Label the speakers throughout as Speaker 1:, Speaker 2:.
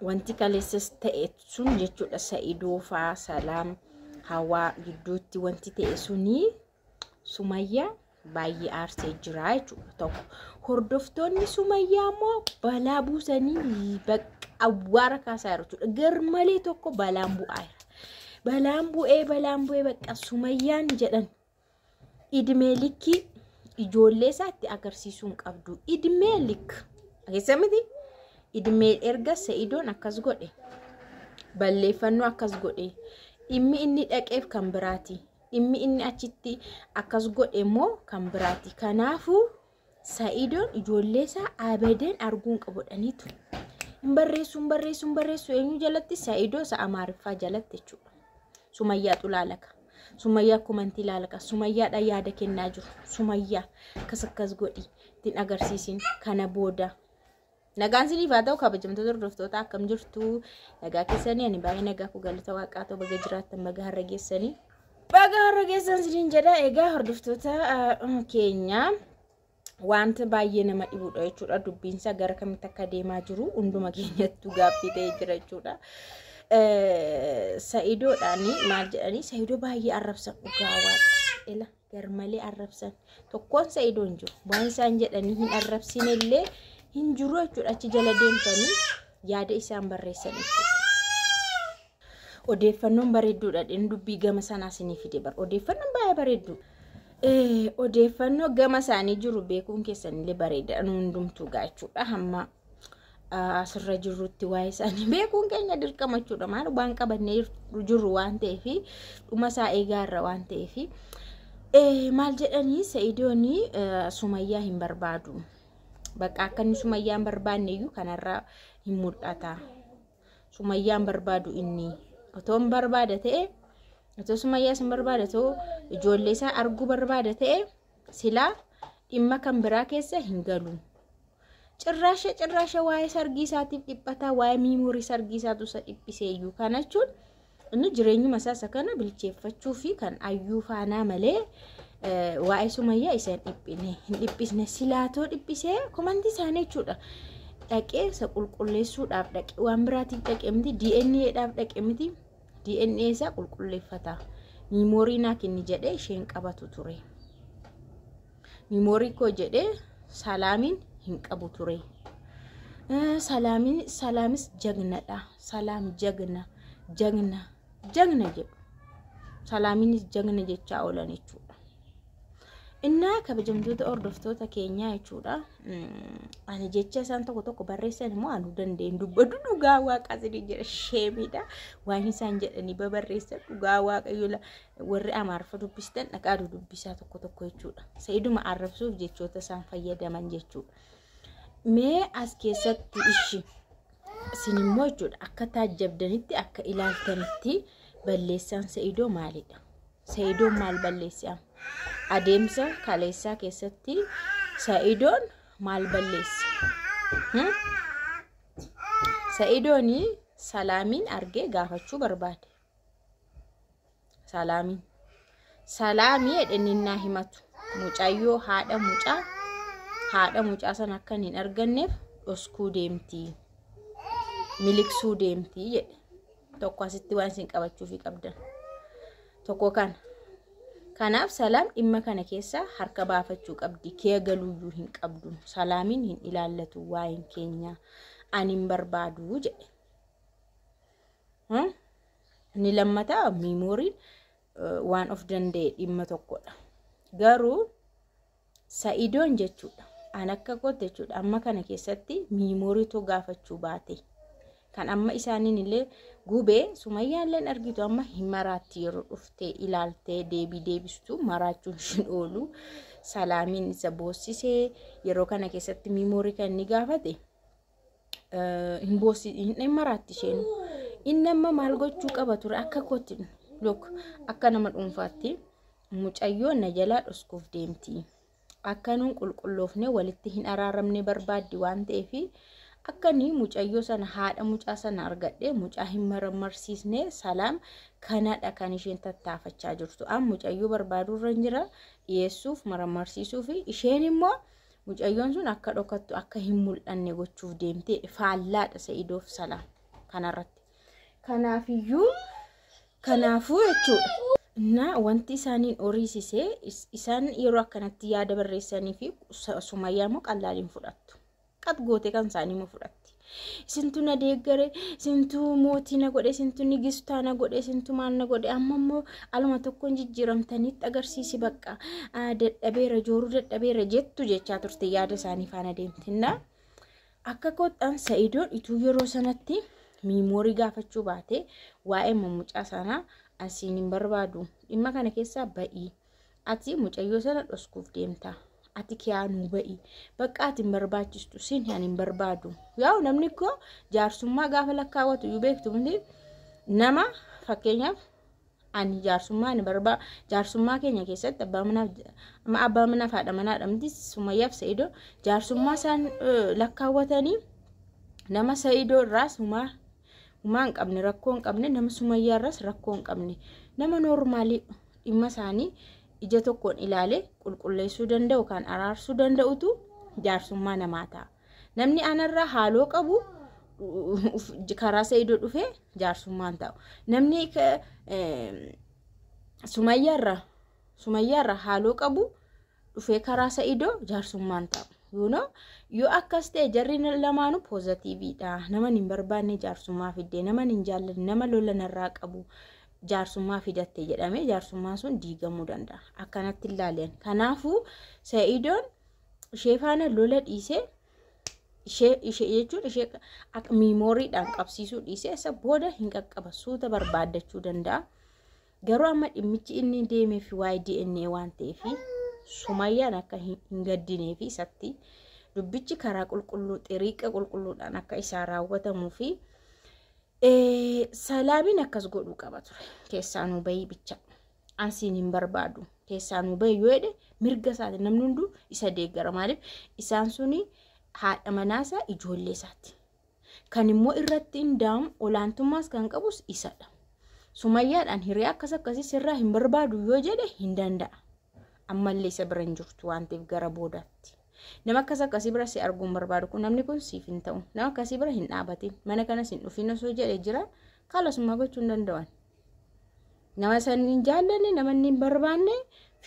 Speaker 1: wanti kaleessas ta'e sun jechuudha sa'idoo faa salaam hawaa gidduutti wanti ta'e sunii sumayyaa baay'ee aarsee jira jechuudha tokko hordoftoonni sumayyaa immoo balaa buusanii bakka awwaara kaasaa jiru jechuudha garmalee tokko balaan bu'aa jira balaan bu'ee balaan bu'ee bakka sumayyaan jedhan idmee likkii ijoollee isaatti agarsiisuu hin qabdu. Idmee lik keessa miti idmee erga sa'idoon akkas godhe balleeffannoo akkas godhe dhimmi inni dhaqeef kan biraati. Dhimmi inni achitti akkas godhe immoo kan biraati. Kanaafuu Sa'iidoon ijoollee isaa abadan arguu hin qabu jedhanii ture. Hin barreessu, hin barreessu, hin barreessu eenyu jalatti Sa'iidoo isa Amaariffaa jalatti jechuudha. Sumayyaa xulaalaka. Sumayyaa komantii ilaalaka. Sumayyaadha yaada kennaa jiru. Sumayyaa akkas akkas godhi ittiin agarsiisin kana booda Nagaan siniif haa ta'u kabajamtoota hordoftoota akkam jirtu nagaa keessanii ani baay'ee nagaa koo galata waaqaa ta'u baga jiraattan baga har'a geessanii baga har'a geessan siniin jedha egaa hordoftoota keenya wanta baay'ee nama dhibudha jechuudha dubbiinsa gara kamitti akka deemaa jiru hunduma keenyattuu gaaffii ta'ee jira jechuudha. Sa'idoodhaan maal jedhanii sa'idoo baay'ee arrabsan dhugaa waaqa. garmalee arrabsan tokkoon sa'idoo hin jiru waan isaan jedhanii hin arrabsine illee hin jiru jechuudha achi jala deemtanii yaada isaan barreessan jechuudha odeeffannoon bareedduudha dhin dubbii gama sanaa sinii fide bar odeeffannoon baay'ee bareedduu odeeffannoo gama isaanii jiru beekuun keessanillee bareeda hundumtuu gaachuudha hamma asirra jirrutti waa'ee isaanii beekuun keenya dirqama jechuudha maal waan qabannee jirru waan ta'eef dhuma isaa eegaa irra waan ta'eef maal jedhanii sa'idoonii sumayyaa hin barbaadu bakka akka inni sumayyaa hin barbaanne iyyuu kanarra hin mul'ata sumayyaa hin barbaadu inni otoo hin barbaada ta'e otoo sumayyaa hin barbaada ta'u ijoollee isaa arguu barbaada ta'e. Silaa dhimma kan biraa keessa hin galu. Cirraasha cirraasha waa'ee sargii isaatiif dhiphataa waa'ee miimoorii sargii isaatu isa dhiphiseeyyuu kana jechuun inni jireenyuma isaa isa kana bilcheeffachuu fi kan ayyuu faanaa malee waa'ee sumayyaa isa hin dhiphine hin dhiphisne silaatoo dhiphisee komantii isaanii jechuudha. Dhaqee isa qulqulleessuudhaaf dhaqe waan biraatiif dhaqe miti DNA'dhaaf dhaqe miti DNA isaa qulqulleeffata. Miimoorii naa kenni jedhee isheen qabatu ture. Miimoorii koo jedhee salaamiin hin qabu ture. Salaamiin salaamis jagnadha. Salaam jagna jagna jagna jedhu. Salaamiinis jagna jechaa oolan jechuudha. Innaa kabajamtoota hordoftoota keenyaa jechuudha. Ani jecha isaan tokko tokko barreessan immoo anuu danda'een dubbadhu dhugaa waaqaa isinii jedha sheemiidha. Waan isaan jedhanii babarreessan dhugaa waaqayyola warri amaarfa dubbistan dhaqaa dudubbisaa tokko tokko jechuudha. Sa'iduma arrabsuuf jechoota isaan fayyadaman jechuudha. Mee as keessatti ishi isin immoo jechuudha akka taajjabdanitti akka ilaaltanitti balleessaan sa'idoo maalidha? Sa'idoon maal balleesse amma? Adeemsa kaleessaa keessatti Sa'idoon maal balleesse? Hmm? Sa'idoon salaamiin argee gaafachuu barbaade. Salaamiin. Salaamii jedheninnaa himatu. Mucayyoo haadha mucaa haadha mucaa san akkan hin arganneef dhoskuu deemti. Miliqsuu deemti jedhe. tokko asitti waan isin qabachuufi qabdan tokko kana kanaaf salaam dhimma kana keessaa harka baafachuu qabdi kee galuuyyuu hin qabdu salaamiin hin ilaallatu waa'een keenya ani hin barbaadu jedhe inni lammataa miimooriin waan of danda'e dhimma tokkodha garuu Sa'idoon jechuudha. An akka kootti jechuudha. Amma kana keessatti miimooriitu gaafachuu baate. Kan amma isaaniin illee gubee sumayyaa illee argitu amma hin maraatti yeroo dhuftee ilaaltee deebii deebistu maraachuun shin oolu salaamiin isa boossisee yeroo kana keessatti miimoorii kan inni gaafate hin boossi hin maraatti isheen inni amma maal gochuu qaba ture akka kootti luk akka nama dhuunfaatti mucayyoo na jalaa dhoskuuf deemti akka nuun qulqulloofne walitti hin araaramne barbaaddi waan ta'eef akka ni mucayyoo sana haadha mucaa sana argadhe mucaa hin marmarsiisne salaam kanadha kan isheen tattaafachaa jirtu an mucayyoo barbaaduu irra hin jira dhiyeessuuf marmarsiisuu fi isheen immoo Mucayyoon sun akka dhokattu akka hin mul'anne gochuuf deemtee faallaadha Sa'idoof salaam kanarratti. Kanaafiyyuu kanaafuu jechuudha. Na wanti isaaniin horiisise isaan yeroo akkanatti yaada barreessanii fi sumayyaa immoo qallaaliin fudhattu. Qat gootee kan isaanii immoo fudhatti. Isintu na deeggare, isintu mootii na godhe, isintu nigistaa na godhe, isintu maal na godhe. Amma immoo aluma tokkoon jijjiiramtanitti agarsiisi bakka ah, dadhabeera, jooruu dadhabeera jettu jechaa turte yaada isaanii faana deemtinna. Akka kottan sa'idoon ituu yeroo sanatti miimoorii gaafachuu baate waa'ee mucaa sanaa asiin hin barbaadu. Dhimma kana keessaa ba'ii. Ati mucayyoo sana dhoskuuf deemta. Ati kiyaa nuu ba'i. Bakka ati hin barbaachistu siin ani hin barbaadu. Yaa'u namni koo jaarsummaa gaafa lakkaawwatu iyyuu beektu miti. Nama fakkeenyaaf ani jaarsummaa ani barbaa jaarsummaa keenya keessatti abbaa manaaf amma abbaa manaaf haadha manaadha miti sumayyaaf sa'idoo jaarsummaa isaan eh, lakkaawwatanii nama sa'idoo irraa sumaa humaa hin qabne rakkoo hin qabne nama sumayyaa irraas rakkoo hin qabne nama noormaalii dhimma isaanii ija tokkoon ilaalee qulqulleessuu danda'u kan araarsuu danda'utu jaarsummaa namaa ta'a. Namni anarraa haaloo qabu karaa sa'idoo dhufee jaarsummaan ta'u. Namni sumayyaarra sumayyaarra haaloo qabu dhufee karaa sa'idoo jaarsummaan ta'u. You know, yoo akkas ta'e jarri lamaanuu poozatiiviidha. Nama hin barbaanne jaarsummaa fidde, nama hin jaallanne, nama lola narraa qabu jaarsummaa fidatte jedhamee jaarsummaan sun diigamuu danda'a. Akkanatti ilaalian. Kanaafuu sa'idoon ishee faana lola dhiisee ishee ishee jechuun ishee akka miimooriidhaan qabsiisuu dhiisee isa booda hin qaqqaba suuta barbaaddachuu danda'a. Garuu amma dhimmichi inni deemeef waa'ee DNA waan ta'eef sumayyaan akka hin gaddinee fi isatti dubbichi karaa qulqulluu xiriiqa qulqulluudhaan akka isaa raawwatamuu fi salaamiin akkas godhuu qaba ture keessaa nuu bahii bicha ansiin hin barbaadu keessaa nuu bahii yoo jedhe mirga isaati namni hunduu isa deeggara maaliif isaan suni haadha manaasaa ijoollee isaati Kan immoo irratti hindaa'amu olaantummaas kan qabus isadha. Sumayyaadhaan hiree akkas akkasii sirraa hin barbaadu yoo jedhe hin danda'a. Ammallee isa bira hin jirtu waan ta'eef gara boodaatti. Nama akkas akkasii bira si arguu hin barbaadu kun namni kun siif hin ta'u. Nama akkasii bira hin dhaabatin mana kanas hin dhufin osoo jedhe jira kaalasummaa gochuu hin danda'an. Nama san hin jaallanne nama inni hin barbaanne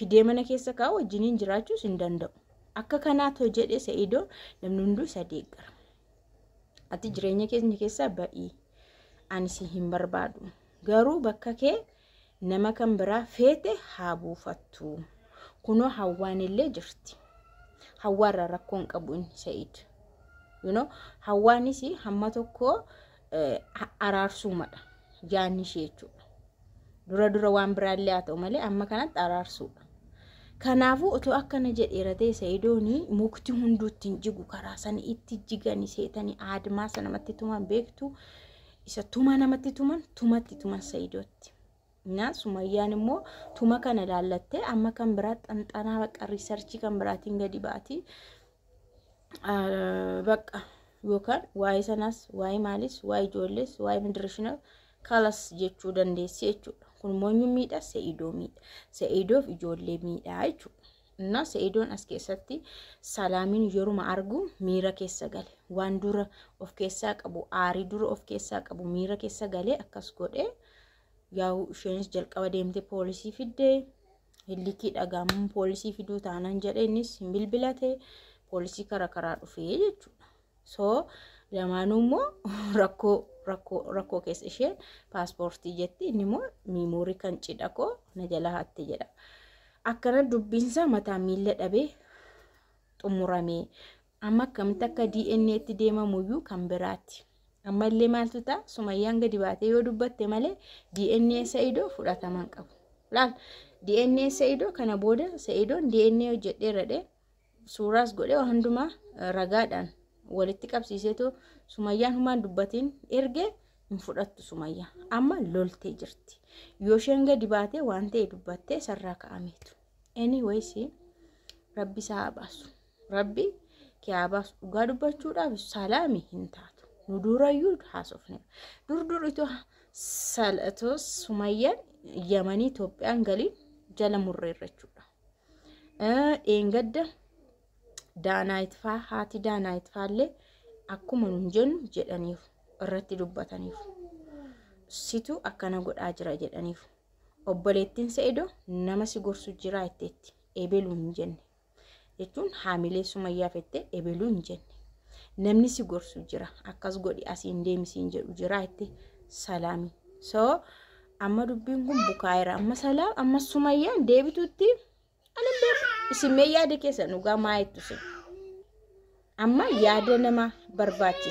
Speaker 1: fidee mana keessa kaa'u wajjiniin jiraachuus hin danda'u. Akka kanaatoo jedhe Sa'idoo namni hunduu isa deeggara. Ati jireenya keenya keessaa ba'i. Ani si hin barbaadu. Garuu bakka kee nama kan biraa feete haa buufattu. Kunoo hawwaan illee jirti. Hawwaarra rakkoon qabu inni Sa'iid. You know, hawwaanis hamma tokko araarsuumadha yaanni ishee jechuudha. Dura dura waan biraallee haa ta'u malee amma kanatti araarsuudha. Kanaafuu otoo akkana jedheera ta'e Sa'idoonii mukti hunduu ittiin jigu karaa sana itti jigani seetanii aadmaa sana namatti tuman beektu isa tuma namatti tuman tumatti tuman Sa'idootti. Naa Sumayyaan immoo tuma kana ilaallattee amma kan biraa xanxanaa bakka riisarchii kan biraatiin gadi baati. Bakka yookaan waa'ee sanaas waa'ee maalis waa'ee ijoollees waa'ee midirishina kalas jechuu dandeessi jechuudha. Kun immoo eenyu miidha se'idoo miidha. Se'idoof ijoollee miidha jechuudha. Innaa se'idoon as keessatti salaamin yeruma argu miira keessa gale waan dura of keessaa qabu aarii dura of keessaa qabu miira keessa galee akkas godhee. Yaa'u isheenis jalqaba deemtee poolisii fidde. Hillikii dhagaamuun poolisii fiduu taanan jedhe innis hin bilbilate poolisii kara karaa dhufee jechuudha. So lamaanuu immoo rakkoo rakkoo rakkoo keessa isheen paaspoortii jetti inni immoo miimoorii kan cidha koo na jala hatte jedha. Akkana dubbiinsaa mataa miila dhabee xumuramee Amma akkamitti akka DNA itti deemamuyyuu kan biraati. Amma illee maaltu ta'a? Sumayyaan gadi baatee yoo dubbatte malee DNA Sa'idoo fudhataman qabu. Laal DNA Sa'idoo kana booda Sa'idoon DNA hojjedheera dhee suuraas godhee waa hundumaa ragaadhaan walitti qabsiiseetu sumayyaan humaan dubbatiin ergee hin fudhattu sumayyaa. Amma loltee jirti. Yoo isheen gadi baatee waan ta'e dubbattee sarraa ka'ameetu. Anyways rabbi isaa haa baasu. rabbi kiyaabaas dhugaa dubbachuudhaaf salaami hin taatu nu durayyuu haasofne dur dur itoo sal'atoo sumayyaan yamanii Itoophiyaan galiin jala murreerra jechuudha. Dheengadda daanaayitfaa haati daanaayitfaallee akkuma nun jennu jedhaniif irratti dubbataniif situ akkana godhaa jira jedhaniif obboleettiin se'edoo nama si gorsu jira jetteetti eebeluu hin jenne. jechuun haamilee sumayyaa fette ebeluu hin jenne namni si gorsu jira akkas godhi asiin deemisiin jedhu jira itti salaami soo amma dubbiin kun bukaa'eera amma salaam amma sumayyaan deebituutti ani beeku isin mee yaada keessan dhugaa maa jettu isin amma yaada nama barbaachisa.